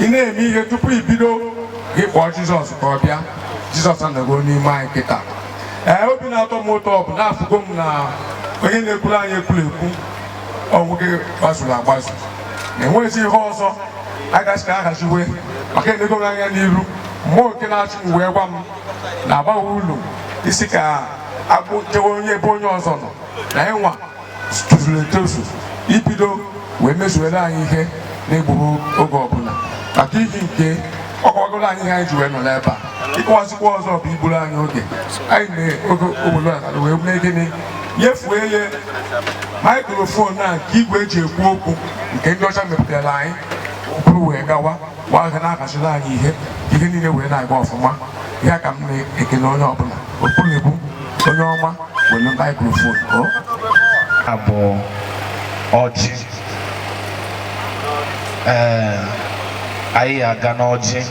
ị na-eme ihe tupu i bido gị kpọọ jizọs ka ọ bịa jizọs anọgo n'ime anyị kịta ee obi na-atọ m ụtọ ọ bụ na afụgo m na onye na-ekwuru anyị ekwuru ekwu ọ nwoke gbazuru agbazu na enweghịzi ihe ọzọ a ga-asị ka a haziwe maka enego m anya n'iru mmụọ nke na-achị m wee gwa m na agbaghị ụlọ isi ka agbụ jewe onye ebe onye ọzọ nọ na ịnwa tozuru etozu ibido wee mezuere anyị ihe na-egbughị oge ọbụla maka ihi nke ọ kọgoro anyị ihe anyị ji wee nọ n'ebe a ịkọwazikwa ọzọ bụ igburu anyị oge anyị na-oge obodo a wee mee gịnị nyefue ya maikrofon a nke igwe e ji ekwu okwu nke ndị ọcha mepụtara anyị buru wee gawa mgbe ahụ na-akachiri anyị ihe ihe niile wee na-aga ọfụma ya ka m na-ekele onye ọbụla okpuru ebu onye ọma were maikrofon o abụ ọjị ee anyị aga n'ọjị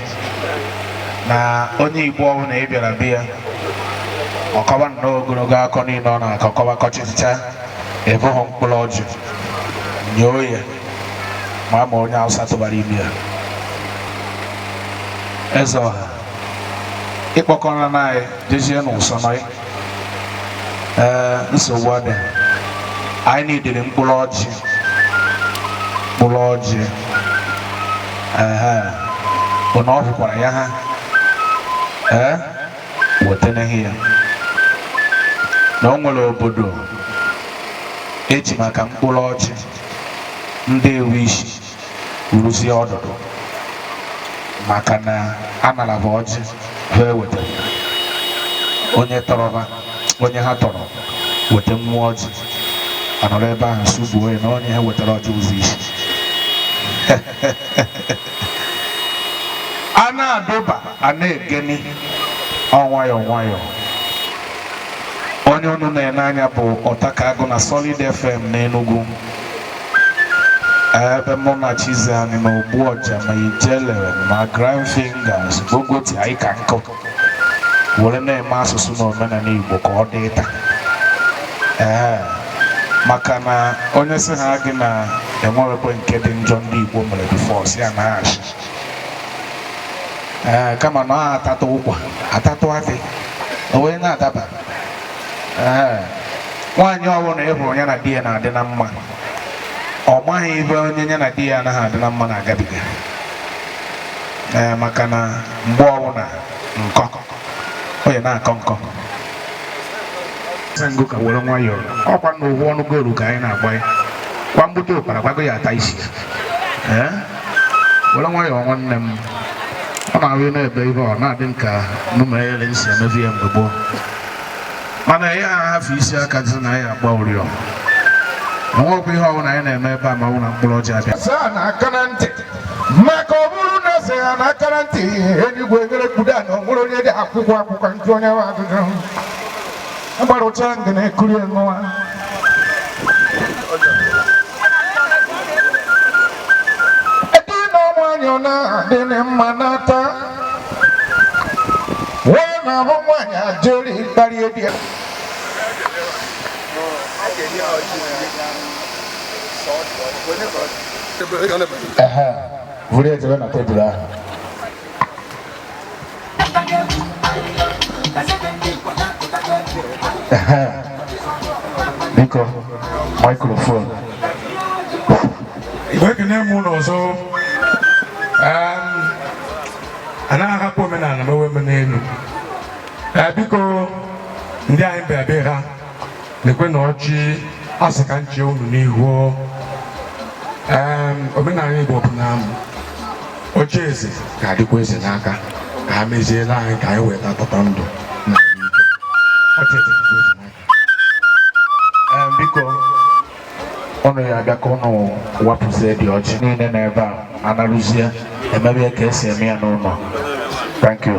na onye igbo ọbụla ị bịara be ya ọ kọwa nnọọ ogologo akụkọ niile ọ na-akọ kọwa kọchịcha ebughị mkpụrụ ọjị nyoo ya ma a ma onye Hausa tụbara ime ya eze ọha ị kpọkọrọ na anyị jezie n'ụsọ nọị ee nsogbu adị anyị na-edere mkpụrụ ọjị mkpụrụ ọjị ehe bụ na ọ hụkwara ya ha ee wetanaghị ya na o nwere obodo e ji maka mkpụrụ ọjị ndị ewu isi rụzie ọdụdụ maka na a naraba ọjị ha ewetara onye tọrọba onye ha tọrọ weta mmụọ ọjị a nọrọ ebe ahụ sugbuo ya na onye ha wetara ọjị ụzọ isi a na-adụba a na-egeni ọ nwayọọ nwayọọ onye unu na-ene anya bụ ọtakagụ na Solid FM na Enugu ebe mụ na chiziani na ogbu ọja ma ijele ma grand fingers bukọta anyị ka nkụ were na-eme asụsụ na omenala igbo ka ọ dị taa ee maka na onye sị ha gị na e nwerekwe nke dị njọ ndị igbo mere before sị ya na asị ee kama na ọ a tatụ ụkwa a tatụ akị o wee na-adaba ee nwaanyị ọbụla ị hụrụ ya na di ya na-adị na mma ọ maghị ebe onye ya na di ya anaghị adị na mma na-agabiga ee maka na mgbe ọbụla nkọ onye na-akọ nkọ sango ka were nwayọọ ọkwa na ụgwọ ọnụ goolu ka anyị na-agba ya kwa mgbute ụkpara gbago ya ata isi ee were nwayọọ nwanne m ọ na-ahụ na-ebe ibe ọ na-adị nka numere nsi emebi ya mgbe gboo mana ya ahafụ isi aka dị na ya agba ụrịọm o nwekwa ihe ọbụla anyị na-eme ebe a ma ọ bụ na mkpụrụ ọjị abịa saa na aka na ntị maka ọ bụrụ na eze ya na akara ntị eluigwe nyere kpudo ana ọ nwere onye dị akwụkwọ akwụkwọ njụ onye ahụ ajụjụ agbara ụcha nga na-ekuri enụwa ebe na nwaanyị ọ na-adị na mma n'ata wee na-ahụ nwaanyị ajeri kparịa di ya Onye ka ọ dị? vụrụ ejebe na tebụl ahụ biko microphone igwe ekene m unu ọzọ anaghị ahapụ omenala mewe omenelu biko ndị anyị bịa be ha lekwenụ ọjị a sị ka m chee unu n'ihu omenala Igbo bụ na ọjị eze ga-adịkwa eze n'aka ka ha meziere anyị ka anyị wee taa tata ndụ na ike biko unu ya-abịa ka unu wapụzie dị ọjị niile n'ebe a anarụzie emebe ka esi eme ya n'ụlọ thank you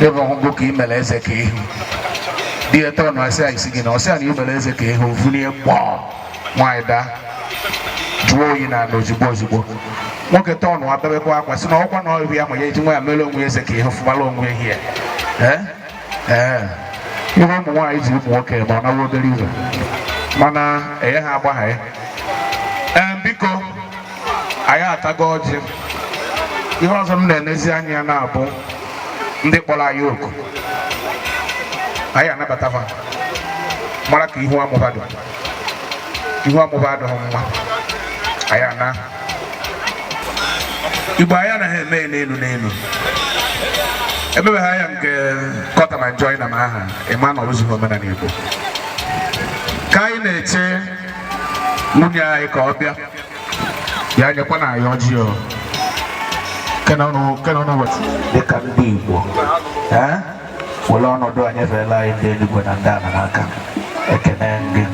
ebe ọgwụgwụ ka ị mere eze ka ihu di ya tọọ na asị i sị gịnị ọ sị ya na ị mere eze ka ihu vulie ọkpọ nwaanyị daa jụọ oyi n'ala ozugbo ozugbo nwoke tọọ n'ana bebekwa akwa sị na ọkwa na ọrịa ya ma ya eji nwa ya mere onwe eze ka ihu fụbara onwe ehi ya ee ee ihe ụmụ nwaanyị ji ụmụ nwoke ma ọ na-awụ obere ihe mana enye ha agbagha ya ee biko anyị atago ọjị ihe ọzọ m na-enezi anya ya na-abụ ndị kpọrọ anyị oku anyị anabata ha mara ka ihu amụba dị ihu amụba adịghị mma anyị ana igbo anyị anaghị eme n'elu n'elu emebeghị anya nke kọta ma njọ na m aha ịma na ọrụzighị omenala igbo ka anyị na-eche nwunye anyị ka ọ bịa ya nyekwa na anyị ọjị o kena ọnụ kena ọnụ wet dịka ndị igbo ee were ọnọdụ a nyefeela anyị ndị eluigwe na ndị ala n'aka ekene gị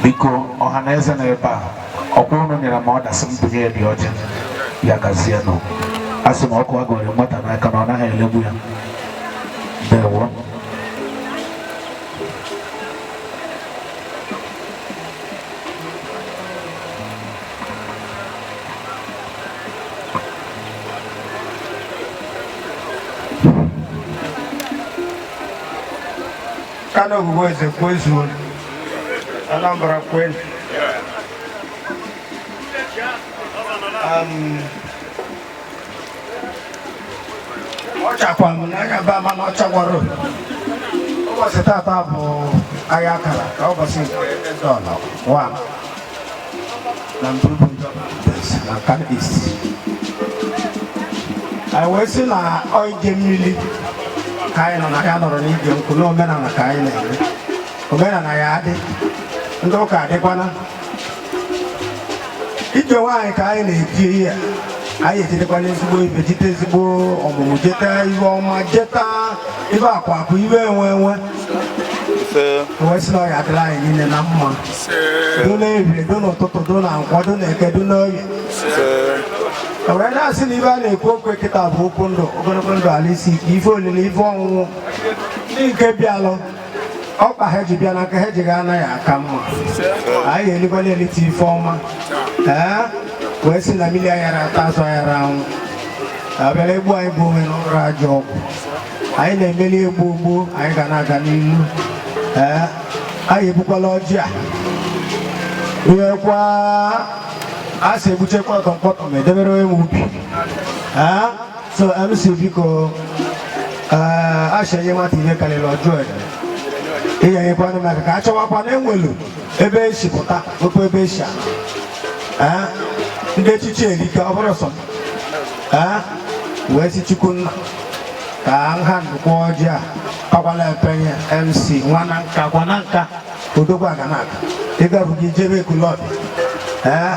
biko ọha na eze na ebe a ọkwa ụnụ nyere m order sị m bunye ya dị ọjị ya gazie nụ a sị na ọkụ a gụrụ nwata n'aka na ọ naghị elegbu ya ndewo Nkanu bụ eze kwezuo Anambra kwenu um, ọchakwa m na anya ba mana ọchagwara ụbọchị tata bụ ahịa akara ka ụbọchị dọla wa na Mburubu na Nkanu East anyị wee sị na ọ ije mmiri ka anyị nọ na ya nọrọ n'ije nkwụ na omenala ka anyị na-eme omenala ya adị ndị ụka adịkwana ije nwaanyị ka anyị na-eje ee anyị ejetekwala ezigbo ife jete ezigbo ọmụmụ jeta ife ọma jeta ife akụ akụ ife enwe enwe wee sị na ọ ya adịlị anyị niile na mma do n'ehihie do n'ụtụtụ do na nkwọ do na eke do n'oye wee na-asị na ife a na-ekwu okwu kịta bụ okwu ndụ ogologo ndụ arụ isi ike ife olili ife ọṅụṅụ ndị nke bịalụ ọkpa ha ji bịa na nke ha ji ga-ana ya aka mma anyị elikwala elite ife ọma ee wee sị na mmiri ayara ata azụ ayara anwụ ọbịara egbu anyị gbuo onwe n'ụra ajọ ọgwụ anyị na-emeli egbu ogbu anyị ga na-aga n'ihu ee anyị ebukwala ọjị a ruekwa a sị egbuchekwa ọtọ mkpọtọ ma edebere onye nwe ubi ee so mc biko eh, a shị e nye nwata ihe karịrị ya ọ jụọ ya ihe nyekwanụ m aka ka a chọwakwa na enwelu ebe esi pụta okwu ebe esi ala Eh, ndị echichi erika ọ bụrọ sọ m. Eh, wee sị chukwu nna ka nha ndụkwa ọjị a kakwala epenye mc nwa Nanka gwa Nanka odogwu aga na-aga ịga bụ gị jebe Ekwulobia ee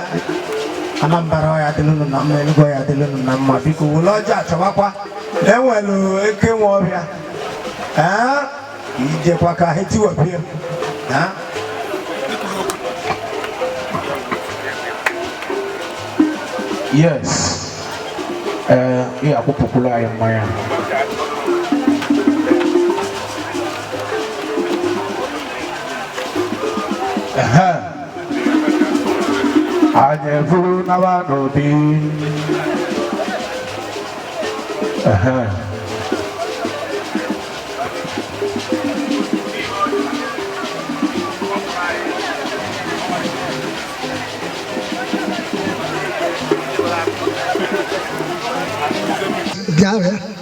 Anambra ọ ya adịlụ nụ na mma Enugu ọ ya adịlụ nụ na mma biko wele ọjị achọbakwa enwelu eke nwe ọbịa ee ijekwa ka ha tiwapie ee yes ee ị ya akwụpụkwulu anyị mmanya anyị efuru nawa n'obi Yeah, man.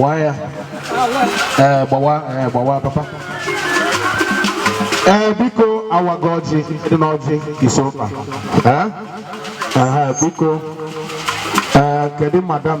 waa ya ee eh, gbawa ee eh, gbawa papa ee eh, biko awago ọjị dị n'ọjị ise ụka ee biko ee kedu madam